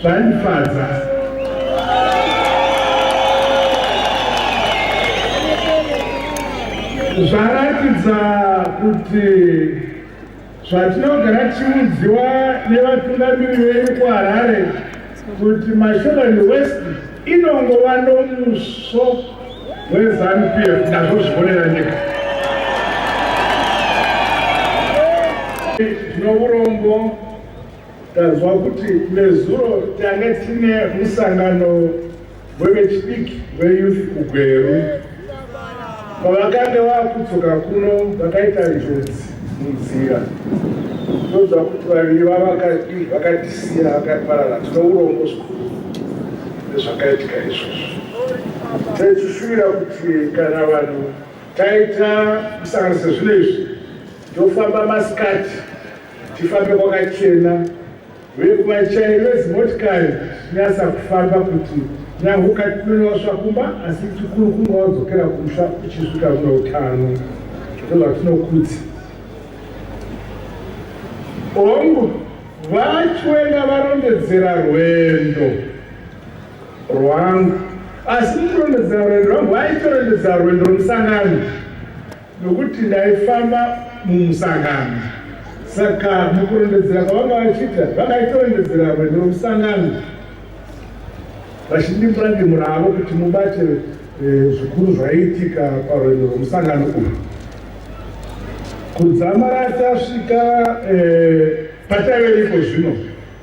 Zvandifadza. Zvaratidza kuti zvatinogara tichiudziwa nevatungamiri vedu kuHarare kuti Mashonaland West inongova nomuso wezanu pf nazvo zvionera nyika tinourombo Tanzwa kuti nezuro tange tine musangano wevechidiki veyouth kuGweru. Pavakange vakudzoka kuno vakaita njodzi munzira ndozva kuti vaviri vavakatisiya vakaparara tino urombo zvikuru nezvakaitika izvozvo taisisira kuti kana vanhu taita kusanganisa zvino izvi tofamba masikati Tifambe kwakachena vekuvachairi vezimotikari tinyasa kufamba kuti nyahuka tinonosva kumba asi chikuru kunga wadzokera kumusha uchisvika zvine utano ndozvatinokudzi hongu vachwenga varondedzera rwendo rwangu asi mukurondedzera rwendo rwangu vaitorondedzera rwendo rwemusangano nokuti ndaifamba mumusangano saka mukurondedzera kwavanga vachiita vangaitorondedzera rwendo rwomusangano vachindimbura ndimura avo kuti mubate eh, zvikuru zvaiitika parwendo rwomusangano uyu kudzamara tasvika eh, pataive iko zvino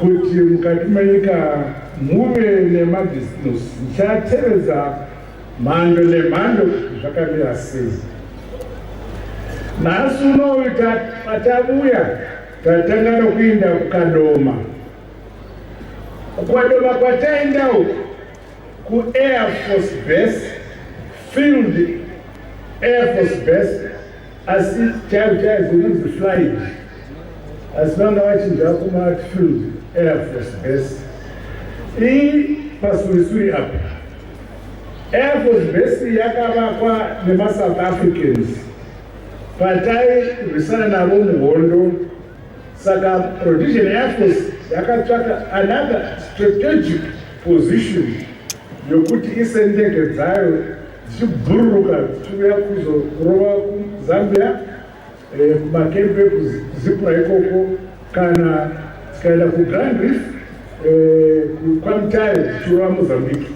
kuti mukati menyika muve nemabusiness ndichatevedza mhando nemhando kuti zvakamira sei nhasi unoyu patavuya tatanga nokuinda kukadoma kukwadoma kwataenda uku kuair force base field air force base asi chaivo chaivo zinonzi flight asi vanga vachinja kumatfield air force base iyi pasurisuri apa air force base yakavakwa nemasouth africans patairwisana navo muhondo saka rhodesian air force yakatsvaka another strategic position yokuti ise ndege dzayo dzichibhururuka dzichiuya kuzorova kuzambia eh, kumakempe kuzipura ikoko kana dzikaenda kugrand reef eh, kwamutare dzichirova mozambique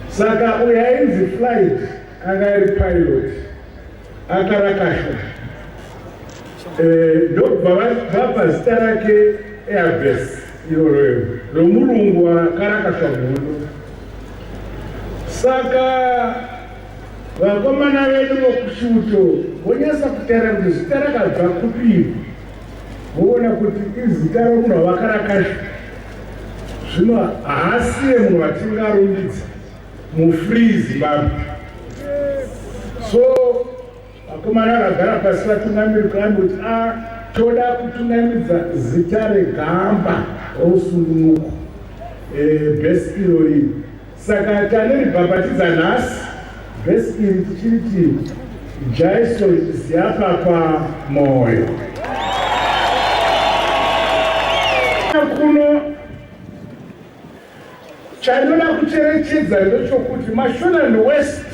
saka uyo ainzi flight anga ari pilot akarakashwa eh, ndobva vapa zita rake airbes iro romurungu akarakashwa muno saka vakomana vedu vokusvuto vonyasa kutera kuti zita rakabva kupii voona kuti izita romunhu wavakarakashwa zvino haasiye munhu vatingarumbidza mufree zimbabwe so vakomana vakagara pasi vatungamiri kambi kuti a ah, toda kutungamidza zita regamba rosungunuko eh, best iro rii saka taneribhabhatidza nhasi best iri tichiri ti jaiso ziyapa pamoyo kuno Chandinoda kucherechedza ndechokuti Mashonan West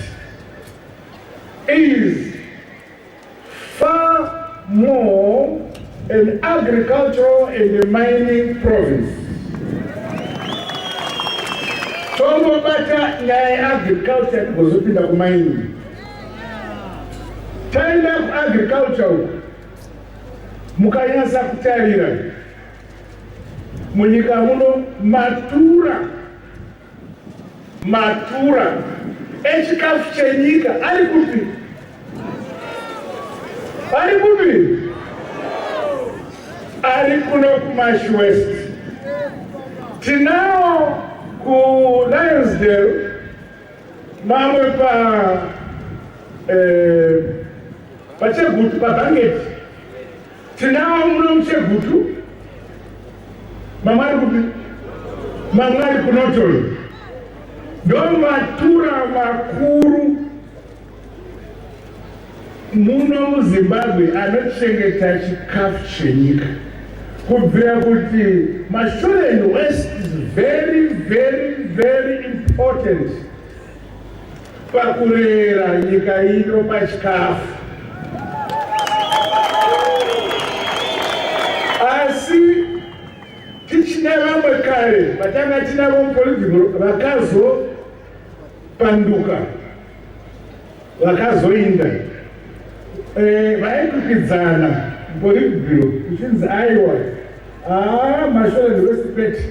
is far more an agricultural and a mining province. Tongobata nyaya yeagriculture tigozopinda kumining. Taenda kuagriculture uku mukanyasa kutarira Munyika muno matura matura echikafu chenyika ari kupi? Ari kupi? Ari kuno kuMash West. Tinawo kuLionsdale mamwe pa eh, pachegutu pabhangeti Tinawo muno muchegutu mamwari kupi mamwari kunotoyo ndovatura vakuru muno muzimbabwe anochengeta chikafu chenyika kubvira kuti mashore and west is very very very important Pakurera nyika ino pachikafu. Asi tichina vamwe kare vatanga tinavo mupolitiko vakazopanduka vakazoinda Eh, vaikukidzana mpolitburo kuchinzi aiwa aa ah, mashore ndewesipeti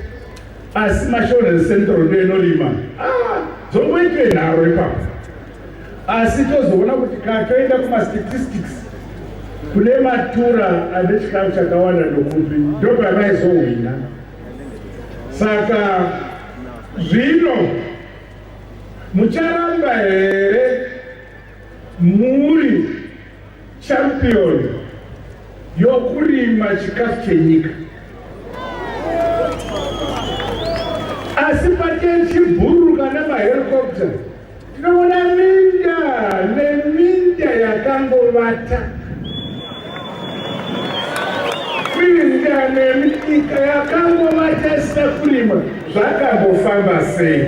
asi mashore ecentral ndo inorima ah, dzongoitwe nharo ipapo asi tozoona kuti ka toenda kumastatistics kune matura ane chikamu chakawanda ndokupi ndopavaizohwina saka zvino mucharamba here Muri champion yokurima chikafu chenyika. Asi pake chibhuruka nemahelicopter tinoona minda neminda yakangovata. Kuinda neminyika yakangova chese kurima zvakambofamba sei?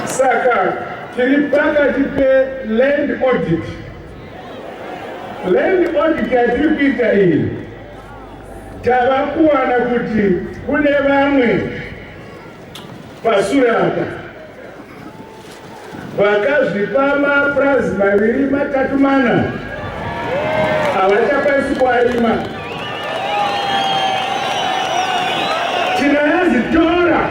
Saka tiri pakati peland audit. Land audit yatiri kuita iyi tava kuwana kuti kune vamwe pasure apa Vakazvipa mapurazi maviri matatu mana havachakwanisi kuarima. Tinayazitora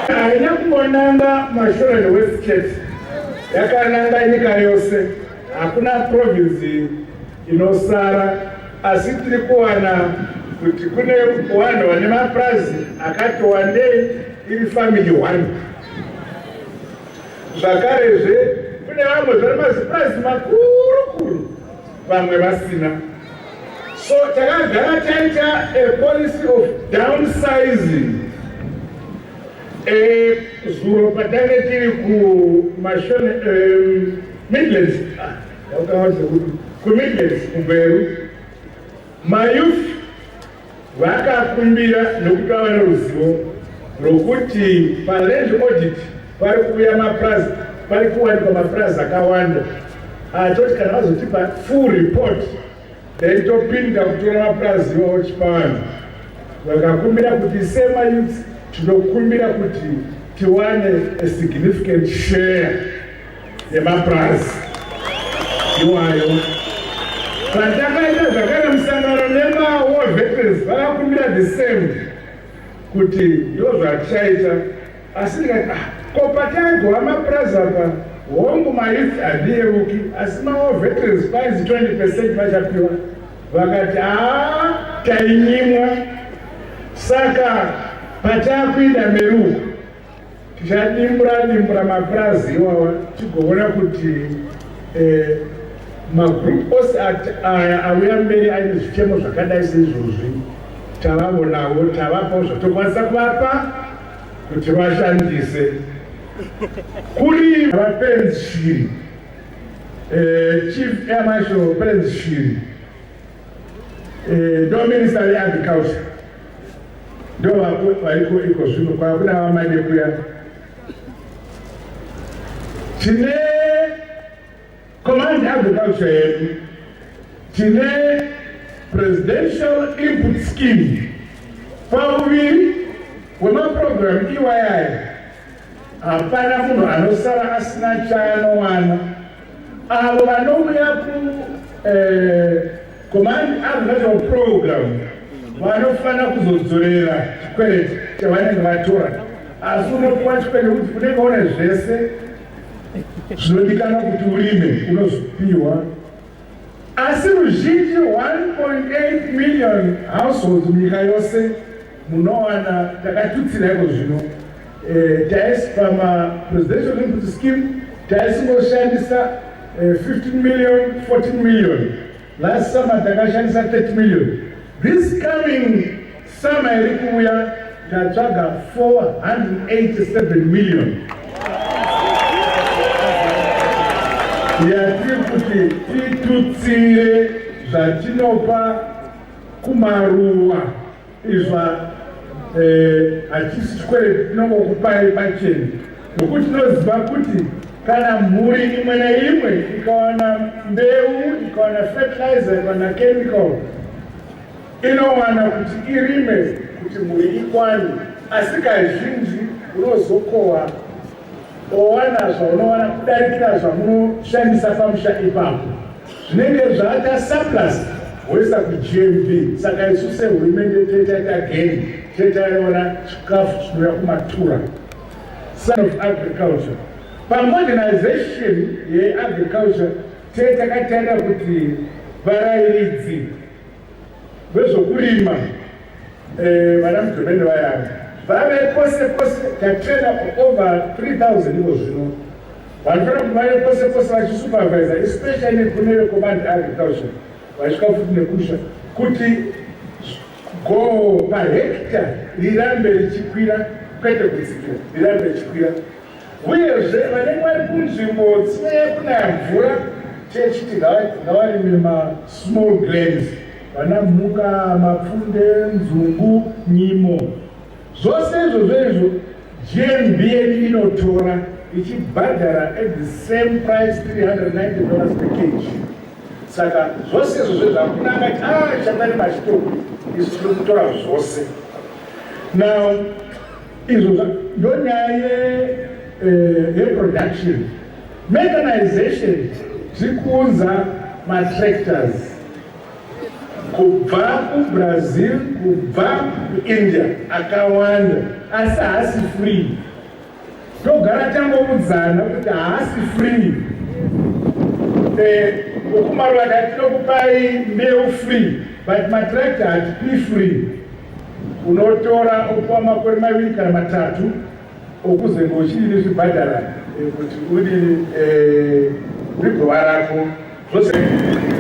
haina kungonanga mashore newestchurch yakananga nyika yose hakuna province inosara asi tiri kuwana kuti kune vanhu vane mapurazi akati wandei iri family one zvakarezve kune vamwe zvane mazipurazi makuru kuru vamwe vasina so takagara taita a policy of downsizing eh, zuro patange tiri kumashone eh, midlands ah. Comedians kuGweru, mayouth vakakumbira nokuti vava neruzivo rwokuti paland audit pari kuuya mapurazi pari kuwanikwa mapurazi akawanda atoti kana vazotipa full report then topinda kutora mapurazi iwawo tichipa vanhu vakakumbira kuti semayouth tinokumbira kuti tiwane a significant share dzemapurazi iwayo zvandakaita zvakare musangano nemawar veterans vakakumbira the same kuti ndo zvatichaita asi ndikati ah, ko pataigova mapurazi apa hongu mayouth handiyeuki asi mawar veterans painzi 20 percent vachapiwa vakati haa tainyimwa saka patakuinda meruko Tichadimbura dimbura mapurazi iwawa tigoona kuti eh, magroup ose aya auya mberi aine zvichemo zvakadai seizvozvi tavavonawo tavapawo zvatokwanisa kuvapa kuti vashandise kuri vapenzi shiri eh, chief amasho penzi shiri Eh, ndo minista veagriculture ndo vaiko iko zvino kwakuda vamade kuya tine command agriculture yedu tine presidential input scheme pauviri wemaprogram iwayayo hapana munhu anosara asina chaanowana avo vanouya kucommand eh, agricultural program vanofanira kuzodzorera chikwereti chavanenge vatora asi unopiwa chikwereti kuti unenge une zvese zvinodikana kuti urime unozopiwa asi ruzhinji 1.8 million households munyika yose munowana takatutsira iko zvino Eh, taisi pama presidential input scheme taisingoshandisa 15 eh, million 14 million last summer takashandisa 30 million this coming summer iri kuuya tatsvaga 487 million yatiri kuti titutsire zvatinopa kumaruwa Izwa eh, hachisi chikwereti tinongokupai pacheni nokuti tinoziva kuti kana mhuri imwe neimwe ikawana mbeu ikawana fertilizer ikawana chemical inowana kuti irime kuti mhuri ikwane asi kazhinji unozokohwa owana zvaunowana kudarikira zvamunoshandisa pamusha ipapo zvinenge zvaata surplus woisa kugmp saka isu sehurumende toitaita geni toitaiona chikafu chinouya kumatura son of agriculture pamodernization yeagriculture tee takatarira kuti varairidzi Vezvokurima eh, vana mudhoromende vayana vave pose pose tatrena over 3000 ivo zvino vanofanira kuti vave pose pose vachisupervisa especially kune vekomandi agriculture vachisvika futi nekusha kuti goo pahekta rirambe richikwira kwete kudzikira rirambe richikwira Uyezve, vanenge vari kunzvimbo dzinonyanya kunaya mvura, techiti ngavarime masmall grains, vana mhuka, mapfunde, nzungu, nyimo. Zvose izvozvo izvo GMBN inotora ichibhadhara at the same price 390 dollars per kg. Saka zvose izvozvo zvakuna angati a ah, chatari machitoro isu tiri kutora zvose now izvo ndonyaya ye eh, yeproduction mechanization tiri kuunza matractors kubva kubrazil kubva kuindia akawanda asi haasi free togara tangoudzana kuti haasi free ukumarwada eh, tinokupai mbeu free but matractor hatipi free Unotora opuwa makore maviri kana matatu okuzenge uchiri nezvibhadhara eh, kuti uri eh, rigova rako zvose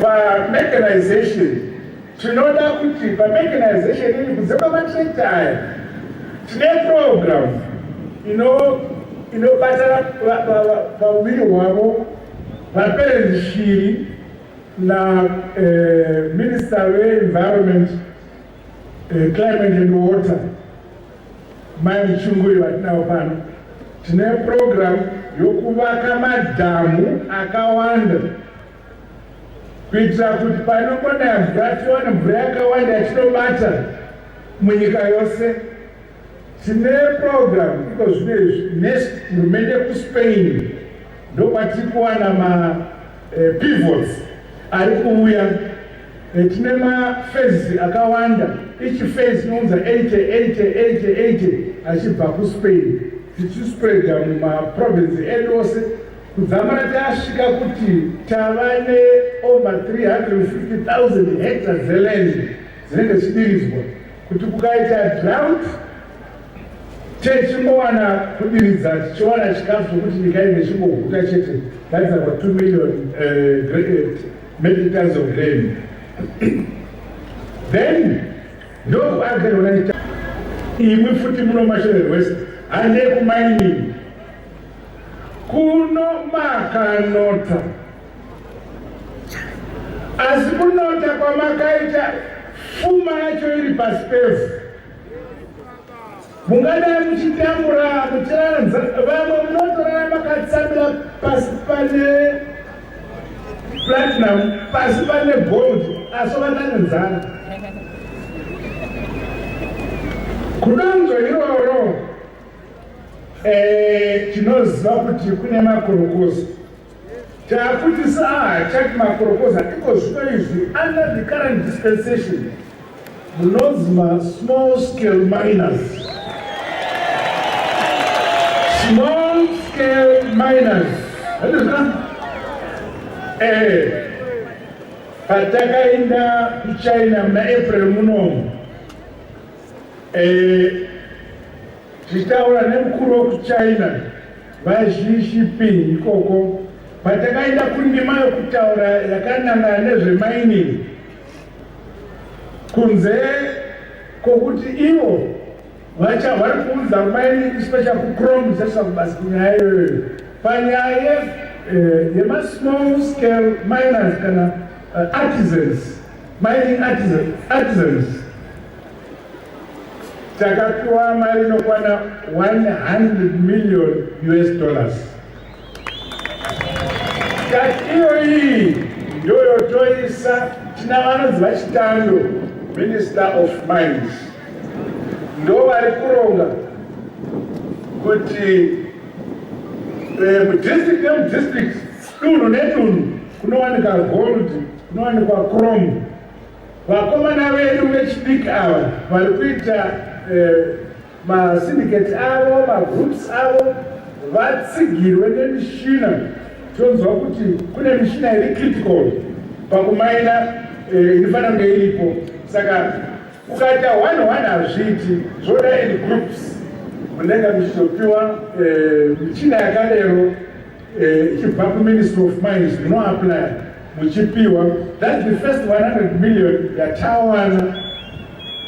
pamechanization tinoda kuti pamechanization ini kunze kwamatrekta aya tine program inobatana pauviri hwavo vaperenzi shiri na eh, minister veenvironment Eh, climate and water mani chunguri vatinavo pano tine program yokuvaka madhamu akawanda kuitira kuti panongonaya mvura tiwane mvura yakawanda yatinobata munyika yose Tine program iko zvino izvi next hurumende kuSpain ndokwatiri kuwana ma eh, pivots ari kuuya eh, tine mafezi akawanda each phase inounza 8888 achibva kuSpain tichispreada mumaprovince edu ose kudzamara tasvika kuti tava neover 350 000 hectare zeland dzinenge dzichidiridzwa kuti kukaita drought techingowana kudiridza tichiwana chikafu zvekuti nyika ine chingoguta chete that's about 2 million uh, eh, metric tons of grain then ndokuagerona ita imwi futi muno mashorer west handei kumainini kuno makanota asi kunota kwamakaita fuma yacho iri pasi pevhu mungadai muchitambura muchiranza vamwe munotorara makatsamira pasi pane platinum pasi pane gold asi vatanenzana kudonzvo iroro eh, tinoziva kuti kune makorokosi Takuti saa chati maproposal iko zvino izvi under the current dispensation munonzi masmall scale miners small scale miners eh patakaenda kuchina muna april munomu eh tichitaura nemukuru wekuchina VaZhishipi ikoko patakaenda kundima yokutaura yakanangana nezvemainini kunze kwokuti ivo vacha vari kuudza maini isu vachakucrom sasa kubasa kunyaya iyoyo panyaya eh, yemasmall scale miners kana eh, artisans mining artisans takapiwa mari inokwana 100 million us dollars kati iyo iyi ndoyotoisa tina vanonzi vachitando minister of mines ndo vari kuronga kuti eh, mudistrict nemudistrict dunhu nedunhu kunowanika gold kunowanikwa chrome Vakomana vedu vechidiki ava vari kuita eh, masindicate avo magroups avo vatsigirwe nemishina tonzwa kuti kune mishina iri critical pakumaina eh, inofanira kunge iripo saka ukaita one one hazviiti zvoda in groups munenge muchizopiwa eh, michina yakadero Eh, ichibva kuministry of mines munoaplya muchipiwa thats the first 100 million yatawana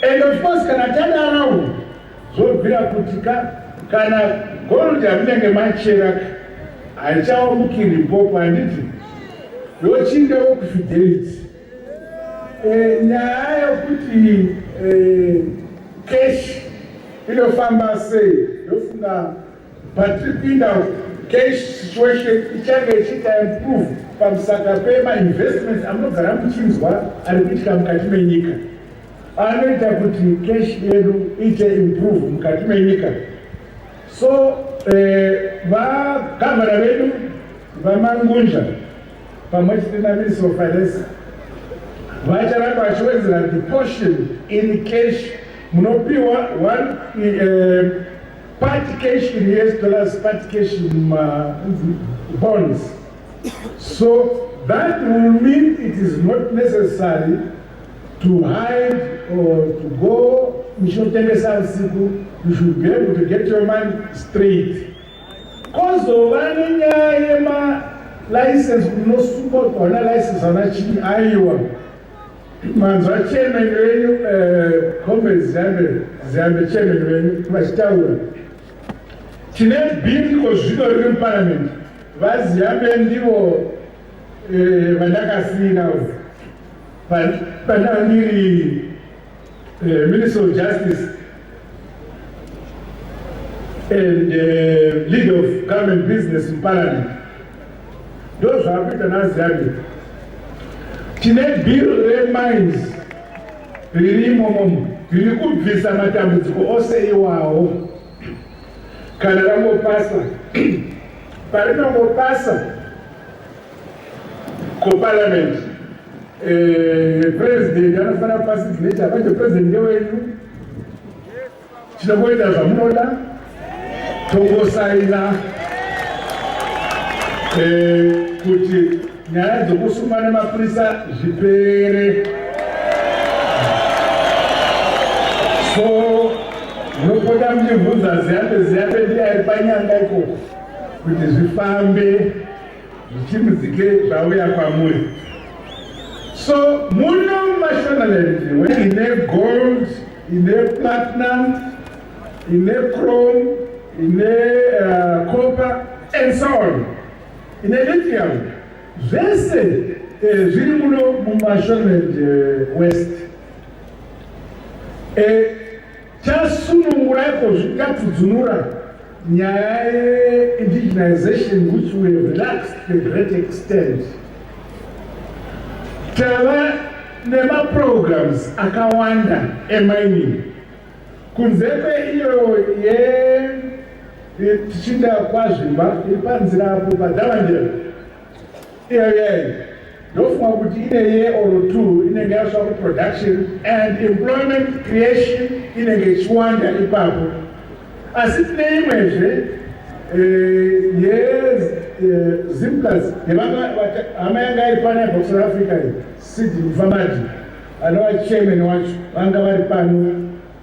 and of course kana tadarawo zvobvira kuti ka kana gold yamunenge machera haichawamukiri mpopo handiti yochinda wokufidelity eh, nyaya yokuti eh, cash inofamba sei yofunga Patiri kuinda uku, cash situation ichange ichiita improve pamusaka pema investments amunogara muchinzwa ari kuitika mukati menyika anoita kuti cash yedu iite improve mukati menyika so eh, vagavhana vedu vamangunja pamwe chete naminister of finance vacharamba vachiwedzera the portion in cash munopiwa one eh, Part cash in US dollars, part cash in uh, bonds. So that will mean it is not necessary to hide or to go muchinotengesa usiku you should be able to get your money straight kozova nenyaya yemalicense unosungwa kuona license ana chii aiwa Manzwa chairman wenyu eh, comrade Ziyambe Ziyambe chairman wenyu vachitaura. Tine bindiko zvino riri muparliament. VaZiyambe ndivo eh, vandakasiyira pandava ndiri eh, minister of justice and leader of government business muparliament. ndozvaari kuita naziyani tine bill remines riri imomomo riri kubvisa matambudziko ose iwawo kana rangopasa parinongopasa kuparliament eh, president anofanira kupasa signature manje president ndewenyu Tinongoita zvamunoda tongosaina eh, kuti nyaya dzokusungwa nemapurisa zvipere so nopota muchibvunza ziyambe ziyambe ndiari panyanga ikoko kuti zvifambe zvichimuzike zvauya kwamuri so muno mumashonaland ine gold ine platinum ine chrome ine uh, copper and so on ine lithium zvese eh, zviri muno mumashonaland eh, west eh, Chasunungurai ko zvikatudzunura nyaya yeindigenization which we have relaxed to a great extent. Tava nemaprograms akawanda emining kunze kweiyo ye tichinda kwazvimba iri panzira apo padavandira ndofunga kuti ine ye or two inenge yasva kuproduction and employment creation inenge ichiwanda ipapo asi tine imwezve yezimplas eh, eh, hama yanga iri pano yabva kusouth africa iyi sidi mufamadi anova chairman wacho vanga vari pano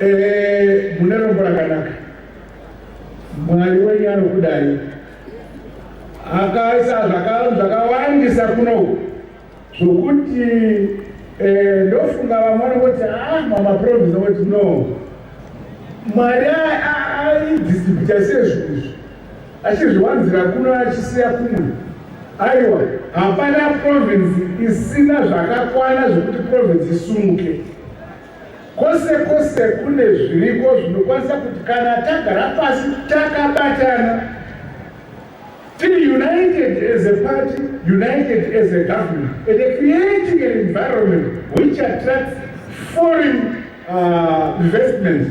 Eh, mune rombo rakanaka mwari wenyu anokudai akaisa zvakawandisa kunoku zvokuti eh, ndofunga vamwe vanoti ah, mamaprovince oti no mwari aidistributa sezvinhu izvi achizviwanzira kuno achisiya kumwe aiwa hapana province isina zvakakwana zvekuti province isumuke kwose kwose kune zviriko zvinokwanisa kuti kana tagara pasi takabatana tiri united as a party united as a government and creating an environment which attracts foreign uh, investments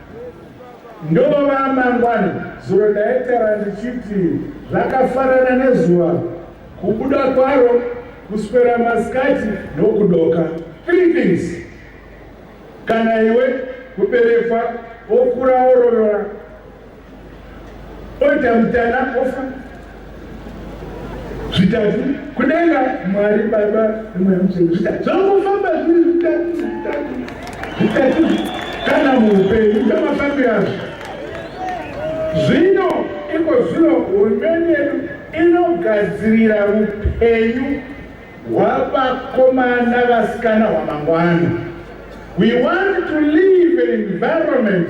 Ndova amangwana zuro ndaitara ndichiti zvakafanana nezuva kubuda kwaro kuswera masikati nokudoka three things kana iwe kuberekwa okura orovera Oita mutana ofa zvitatu kudenga mwari baba nemweya mutsvene zvitatu zvangofamba zviri zvitatu zvitatu zvitatu kana muupenyu ndomafambiro azvo zvino iko zvino hurumende yedu inogadzirira upenyu hwavakomana vasikana hwamangwana we want to live an environment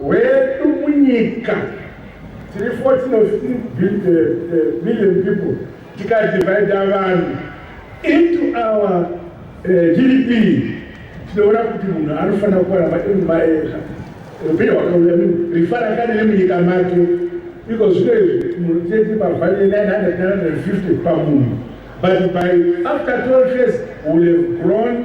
hwedu munyika tiri 14 or 15 uh, million people tikadivhaidha vanhu into our uh, eh, gdp tinoona kuti munhu anofanira kuramba imumaeza upenyu hwakauya rifara kani nemunyika make iko zvino izvi munhu tete pavhanye 950 pamunhu but by after 12 years will have grown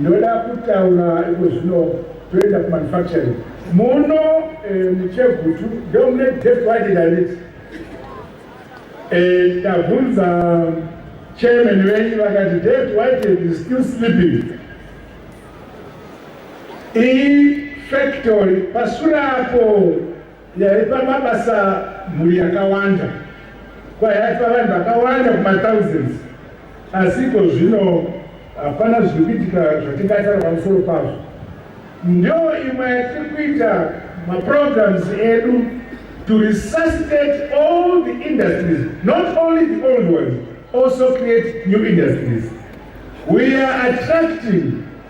Ndoda kutaura iko zvino toenda kumanufacturing muno eh, muchegutu ndomune deft wide direct eh, ndabvunza chairman venyu vakati deft wide is still sleeping iyi factory pasure apo Yaipa mabasa mhuri yakawanda, kwa yaipa vanhu vakawanda kuma thousands, asi iko zvino hapana zviri kuitika zvatingataura pamusoro pazvo. Ndio imwe yatiri kuita maprograms edu to resuscitate all the industries, not only the old ones, also create new industries. We are attracting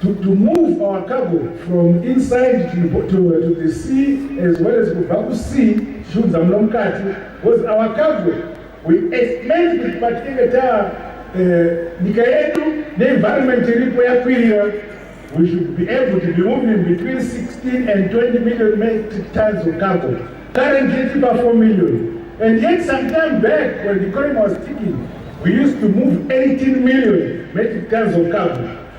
to, to move our cargo from inside to, to, to the sea as well as kubva kusea tichiunza muno mukati because our cargo we explained kuti patinenge ta eh, nyika yedu neenvironment iripo yakwirira we should be able to be moving between 16 and 20 million metric tons of cargo currently tipa 4 million and yet some time back when the economy was ticking we used to move 18 million metric tons of cargo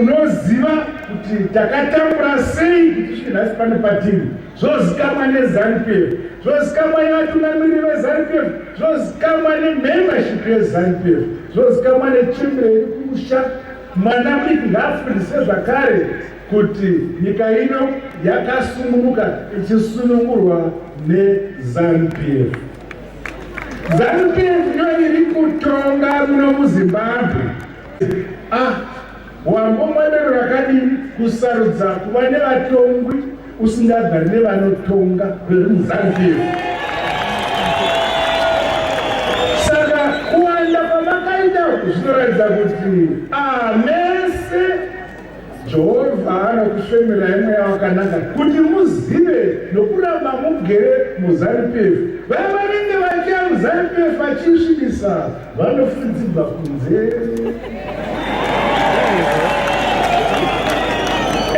unoziva kuti takatambura sei kuti svike nhasi pane patiri zvozikamwa nezanupf zvozikamwa nevatungamiriri vezanupf zvozikamwa nemembership yezanupf zvozikamwa nechembere iri kumusha mwana mudiki ngaafundise zvakare kuti nyika ino yakasungunuka ichisunungurwa nezanupf zanupf iyo iri kutonga muno muzimbabwe Ah, wambomwadero rakadini kusarudza kuva nevatongwi usingagari nevanotonga veri muzanziyo saka kuwanda kwamakaita zvinoratidza kuti ah, mese Jehovha anokushemirai mweya wakanaka kuti muzive nokuramba mugere muZanu-PF. Vaya vanenge vachiya muZanu-PF vachiisvibisa vanofudzirwa kunze.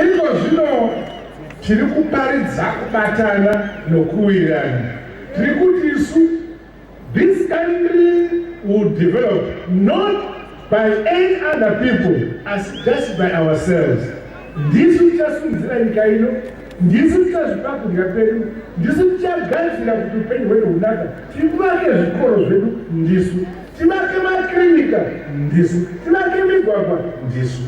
Iko zvino tiri kuparidza kubatana nokuwirirana. Tiri kuti isu This country will develop not by any other people as just by ourselves. Ndisu tichasunzira nyika ino, ndisu tichazvipa kudya kwedu, ndisu tichagadzira kuti upenyu hwedu hunaka, tivake zvikoro zvedu ndisu, tivake makirinika ndisu, tivake migwagwa ndisu.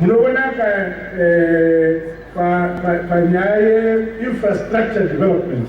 Munoonaka eh, panyaya pa, pa, pa, yeinfrastructure development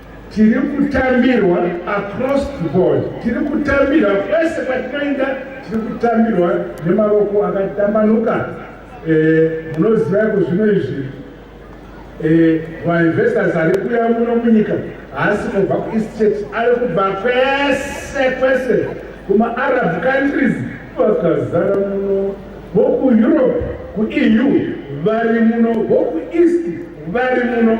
tiri kutambirwa across the board tiri kutambirwa kwese kwatinoenda tiri kutambirwa nemavoko akatambanuka eh, munoziva yako zvino izvi eh, mainvestors ari kuya muno munyika haasi kubva kueastate ari kubva kwese kwese kumaarab countries vakazara muno vokueurope kueu vari muno vokueast vari muno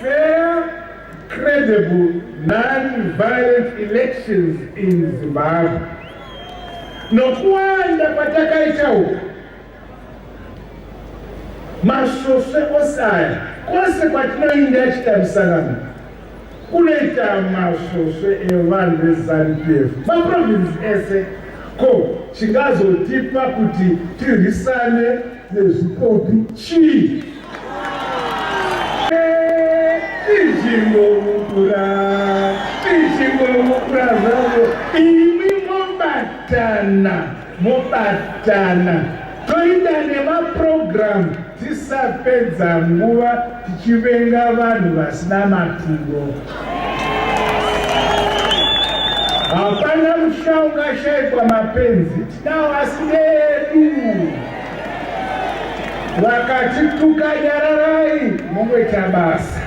Fair, credible, non-violent elections in Zimbabwe. Nokuwanda kwatakaita uku masvosve ose aya kwose kwatinoinda achita misangano kunoita masvosve evanhu veZanu PF maprovinsi ese ko chingazotipa kuti tirwisane nezvikopi chii mobatana toita nemaprogramu tisapedza nguva tichivenga vanhu vasina maturo hapana musha ungashaikwa mapenzi Navasi vedu vakatituka nyararai mungoita basa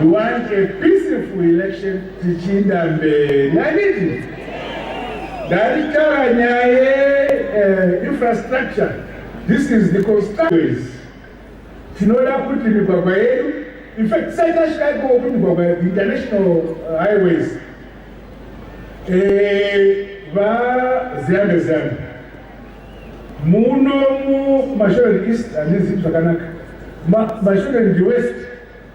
we want a peaceful election tichiinda mberi anditi ndaitaura nyaya yeinfrastructure eh, this is the constructors tinoda kuti migwagwa yedu in fact saitasvika ikoko migwagwa yedu international uh, highways Eh, vaziyambe ziyambe muno mumashoreni east handizivi zvakanaka mashoreni ndi west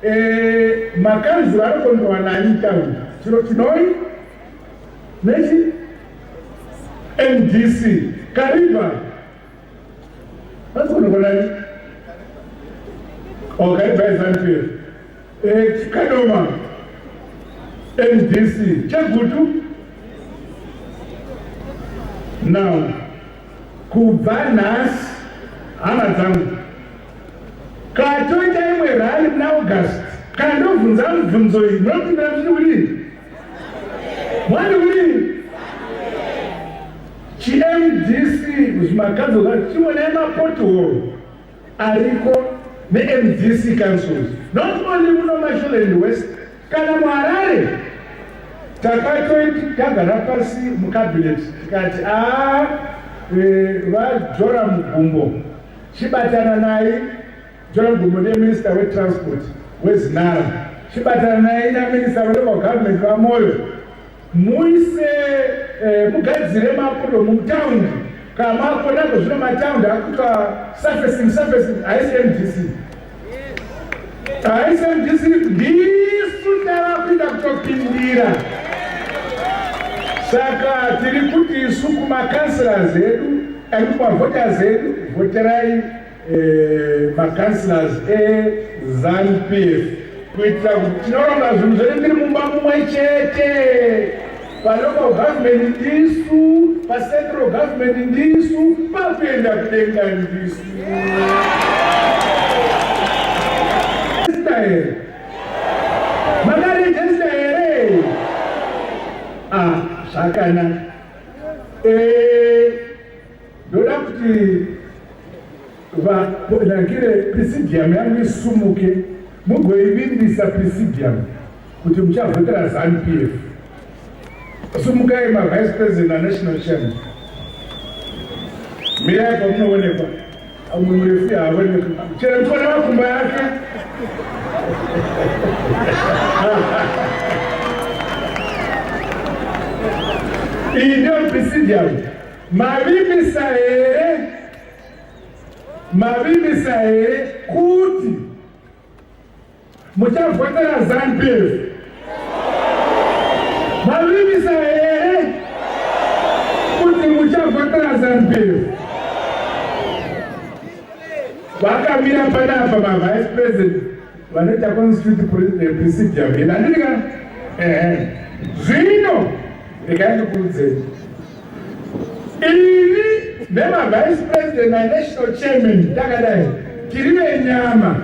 eh, makanzi vanokondowa nani town chiro chinoi nechi mdc kariba Vasonokonani. Wakaibva Zambia. Eh, Kadoma. NDC. Chagutu. Now, kubva nhasi hama dzangu katoita imwe rali muna august kana ndobvunza mubvunzo iyi munopindira kuti kudii mwani kudii ChiMDC kuzviMaganzo Valley chionai mapothole ariko neMDC councils not only muno Masholand West kana muHarare takatoiti tagara pasi mucabinet tikati a ah, eh, vajora mugumbo chibatana naye jora mugumbo neminister wetransport wezinara chibatana naye naminister welocal government vamoyo Muise eh, mugadzire mapudo mutaundi kamako nako zvino mataundi akuitwa surfacing surfacing haisi mdc haisi mdc ndisu tavakuita kutopindira saka tiri kuti isu kumakansira zedu and kumavhota zedu vhoterai eh, macancelors ezanupf kuitira kuti tinoronga zvinhu zvedu tiri mumba mumwe chete palocal government ndisu pacentral government ndisu pakuenda kudenga ndisu makarejesta here ah, zvakanaka eh, Ndoda kuti vanangire presidium yangu isumuke mugoivimbisa presidium kuti muchavhotera zanu p f sumukai mavice president anational chairman mirai pamunoonekwa amwe murefu yaaoneka chero mtona makumba yake iyi ndiyo presidium Mavimbisa here mavimbisa here kuti muchavhotera zanupf mavimbisa here kuti muchavhotera zanupf vakamira panapa mavice president vanoita constitute eh, procedure mhina ndika ehe zvino ndikandikuudzei ini nemavice president nanational chairman takadai tiri venyama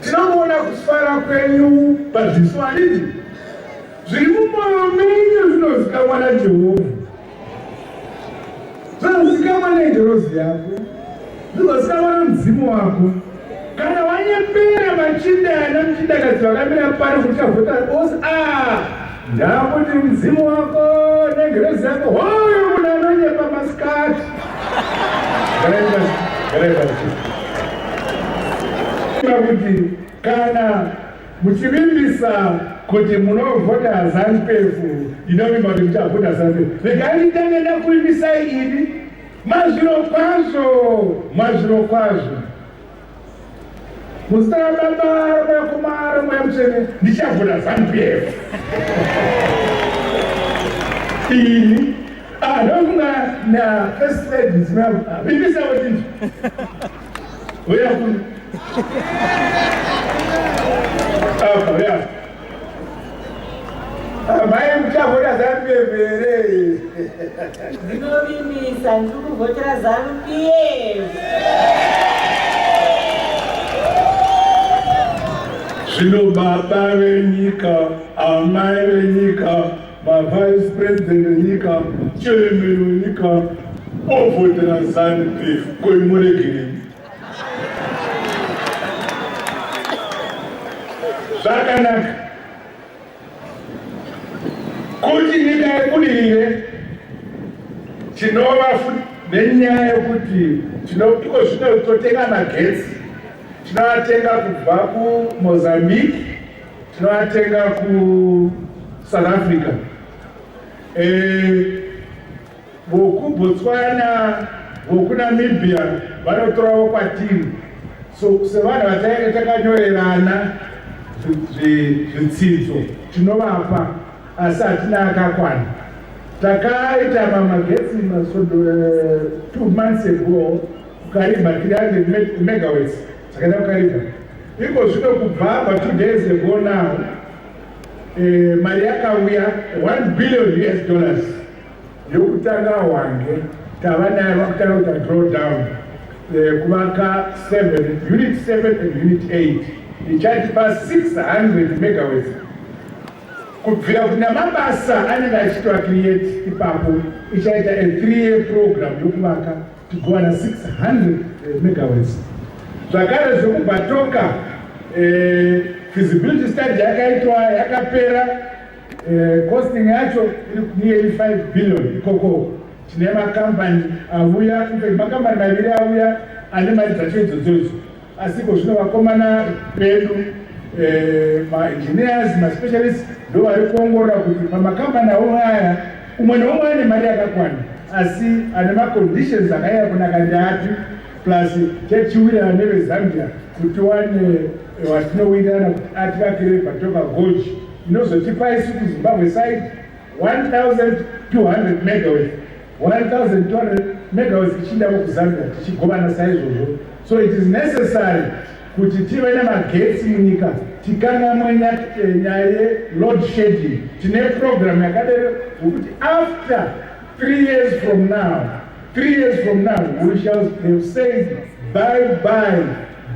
tinomuona kufara kwenyu pazviso handiti zviri mumoyo menyu zvinozikamwa najehovha Zvinozikamwa nengirozi yako, zvinozikamwa nemudzimu wako. Kana wanyepera machinda ana muchindakadzi vakamira pari kuti chavhota ose a ndakuti mudzimu wako nengirozi yako hoyo munhu anonyepa masikati kuti kana Muchivimbisa kuti munovhota Zanupf ndinovimba kuti muchavhota Zanupf. Regai nditange ndakuvimbisai ini mazviro kwazvo mazviro kwazvo muzita rababa rakomara mweya mutsvene ndichavhota Zanupf ini anofunga na first lady vimbisa kuti Huya kuno. Apa, huya. Amai muchavhota zanu pembere. Ndinovimbisa ndiri kuvhotera zanu pf. Zvino baba venyika, amai venyika, Mavice President enyika, Chairman wenyika, ovhotera Zanu PF, koi muregerei? Zvakanaka kuti nyika yebudirire tinova futi nenyaya yekuti iko zvino totenga magetsi tinoatenga kubva kumozambique Tinoatenga ku South Africa. Eh voku Botswana, voku Namibia vanotorawo kwatiri. So sevanhu vatainge takanyorerana zvitsidzo tinovapa asi hatina akakwana. Takaita mamagetsi masodo eh, two months ago kukarimba 300 megawatts Takaenda kukaridza iko zvino kubva pa two days ago now eh, mari yakauya 1 billion us dollars yokutanga hwange tava nayo vakutanga kuita draw down eh, kuvaka 7 unit 7 and unit 8 ichatipa 600 megawats kubvira kuna mabasa anenge achitwa create ipapo ichaita a three year program yokuvaka kuwana 600 eh, megawatts zvakare zvekubhatoka eh, feasibility study yakaitwa yakapera eh, costing yacho iri nearly 5 billion ikoko tine makampani avuya makambani maviri auya ane mari dzacho idzodzodzo Asi ko zvino vakomana vedu eh, maengineers maspecialist ndo vari kuongorora kuti pamakambani avo aya umwe neumwe ane mari yakakwana asi ane maconditions akaiya kunaka ndiapi plus chachiwirana nevezambia kuti wane eh, watinowirana kuti ativakire vatoka goji inozotipa isu kuzimbabwe side 1200 megaweth 1200 megawatts tichiinda kuzambia tichigovana saizvozvo so it is necessary kuti tive nemagetsi munyika tikangamwe eh, nyaya yeload shedding tine program yakadero yokuti after three years from now three years from now we shall have said bye bye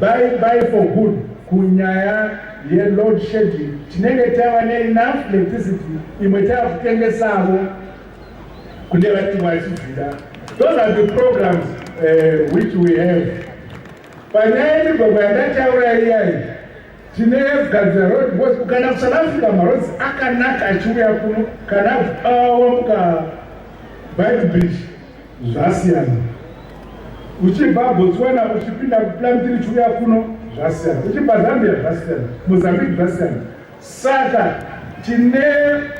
bye bye for good kunyaya yeload shedding tinenge tava neenough electricity imwe tava kutengesavo kune vati vachizvida those are the programs uh, which we have panyaya yemigwagwa yandataura iyai tine gadzira road bos ukaenda kusouth africa marods akanaka achiuya kuno kana awamuka bike bridge zvasiyana uchibva botswana uchipinda kuplan tiri chiuya kuno zvasiyana uchibva zambia zvasiyana mozambique zvasiyana Saka tine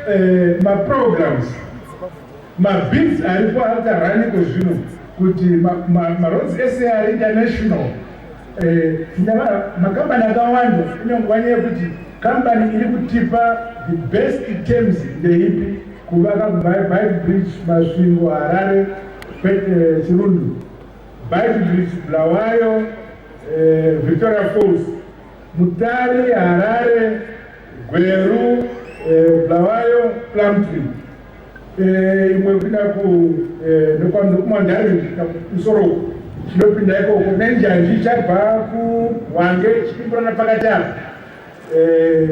eh, maprograms mabhizi aripo akaraniko zvino kuti maroads ese ari international eh, makambani akawanda inongwani yekuti kambani iri kutipa the best terms ndeipi kuvaka bike bridge masvingo harare eh, chirundu bike bridge bulawayo eh, victoria falls Mutare, Harare, Gweru, eh, Blawayo, Plumtree. Eh, imwe kuda ku eh, nokwanza kumandare kusvika kusoro chinopinda ikoko nenjanji chabva kuhwange chipimburana pakati apa eh,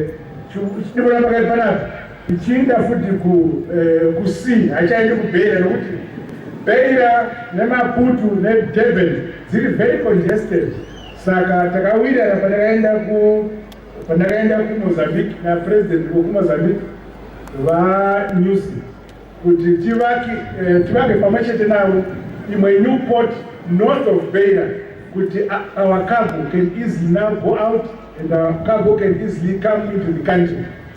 chipimburana pakati panapa ichiinda futi kusea eh, haichaendi kubheira nokuti bheira nemaputu nedurban dziri very congested Saka takawirirana pandakaenda ku pandakaenda kuMozambique napresident wekuMozambique vaNewsy kuti tivake eh, tivake pamwe chete navo imwe new port north of Beira kuti our cargo can easily now go out and our cargo can easily come into the country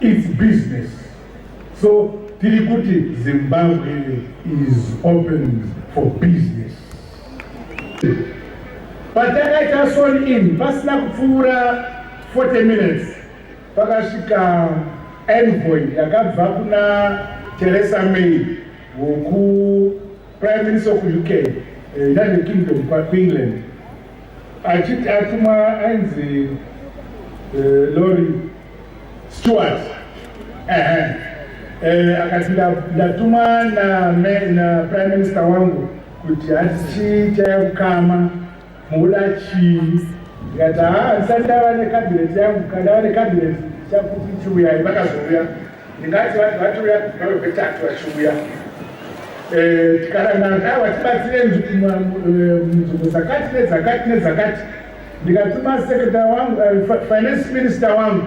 It's business. So tiri kuti Zimbabwe is open for business. Patakaita sworn in pasina kupfuura 40 minutes pakasvika envoy yakabva kuna Theresa May woku Prime Minister of UK, eh, United Kingdom, kwaEngland achiti atumwa ainzi eh, Lori Stewart eh, akati ndatumwa na, na prime minister wangu kuti asi chaya kukama Muda chii? Ndikati haa handisati ndava necabinet yangu kana ndava necabinet chakuti chiuyai vakazouya ndingati vanhu vatiuya vave vetatu vachiuya eh, tikarangana kaa vatibatsire nzvimbo eh, dzakati nedzakati nedzakati ndikatuma sekretary wangu eh, finance minister wangu